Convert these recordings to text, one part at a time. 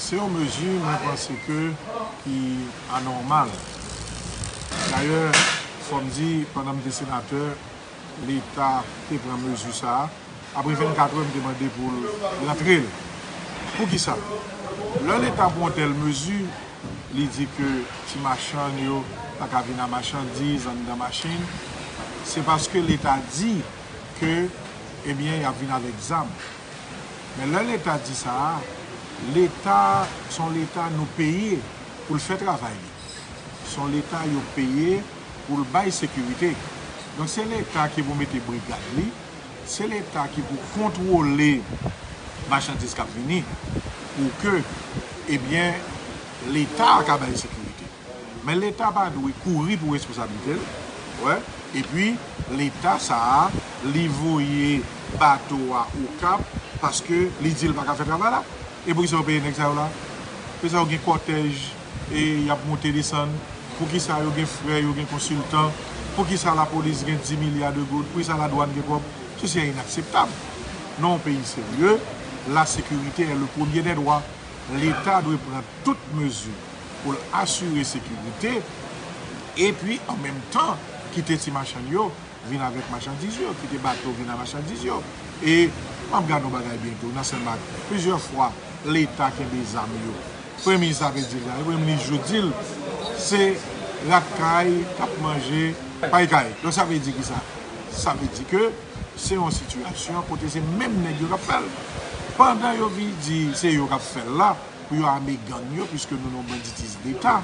Se yon mezi mwen panse ke ki anòmal. Dayè, fò m di, pandan m te senatè, Leta te pran mezi sa a. Apre 24 è, m te mande pou l rantre l. Pou ki sa? Lè Leta pran yon tèl mezi, li di ke ti machann yo pa ka vin a machandiz anndan machin, se paske Leta di ke, ebyen, y ap vin avèk zam. Men lè leta di sa a, leta s on leta nou peye pou l fè travay li. S on leta yo peye pou l bay sekirite. Donk se leta ki pou mete brigad li, se leta ki pou kontwole machandiz k ap vini pou ke ebyen leta a ka bay sekirite. Men leta pa dwe kouri pou responsabilite l wè epi leta sa a li voye bato a okap paske li di l paka fè travay la e pou kisa yo peye nèg sa yo la pou kisa yo gen kòtèj e yap monte desann pou kisa yo gen frè yo gen konsiltan pou kisa lapolis gen 10 milya de goud pou kisa ladwann gen kòb sesi e inakseptab nan yon peyi serye lasekirite è le premye dè dwa leta dwe pran tout mezi pou l asire sekirite epi an menm tan kite ti machann yo vin avèk machandiz yo, kite bato vin a machandiz yo. E m ap gad yon bagay byen tou nan Senmak, plizyè fwa Leta kenbe zam yo. Premye minis la te di l sa, e Premye minis jou di l se rat kay k ap manje pay kay. Donk sa vle di ki sa? Sa vle di ke se yon sitiyasyon kote se menm nèg yo k ap fè l. Pandan yo vin di se yo k ap fè l la. pou yo ame gang yo puiske nou nan yon banditis deta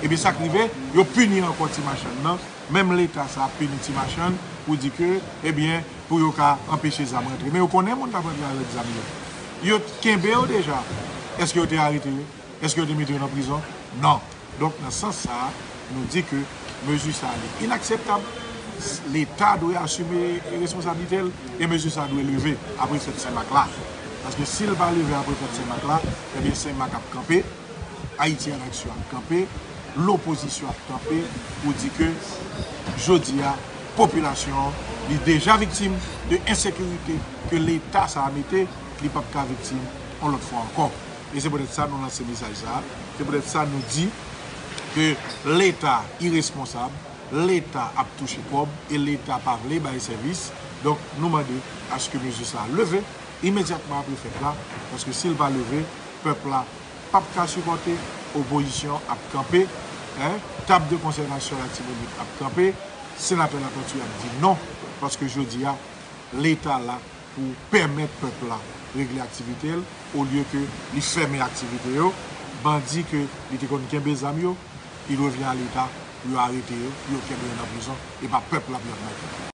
ebyen sak rive yo pini ankò ti machann nan menm leta sa ap pini ti machann pou di ke ebyen pou yo ka anpeche zam rantre men yo konnen moun kap rantre avèk zam yo yo t kenbe yo deja èske yo te arete yo èske yo te mete yo nan prizon nan. Donk nan sans sa, nou di ke mezi sa li inakseptab, leta dwe asime responsablite l e mezi sa dwe leve apre fèt Sen Mak la. Paske si l pa leve apre fèt Sen Mak la, ebyen Sen Mak ap kanpe, Ayiti an Aksyon ap kanpe, lopozisyon ap kanpe pou di ke jodi a popilasyon an li deja viktim de ensekirite ke leta sa mete, li pap ka viktim yon lòt fwa ankò. e se poutèt sa nou lanse mesaj sa a, se poutèt sa nou di ke leta iresponsab, leta ap touche kòb e leta pa vle bay sèvis, donk nou mande aske mezi sa a leve imedyatman apre fèt la, paske si l pa leve pèp la p ap ka sipòte, opozisyon ap kanpe, tab de konsèvasyon Latibonit ap kanpe, Senatè Latortue ap di non, paske jodi a leta la pou pèmèt pèp la regle aktivite l olye ke li fèmen aktivite yo, bandi ke li te konn kenbe zam yo, il revient à l'Etat pou yo arete yo, pou yo kenbe yo nan prizon, e pa pèp la pou y ap mande.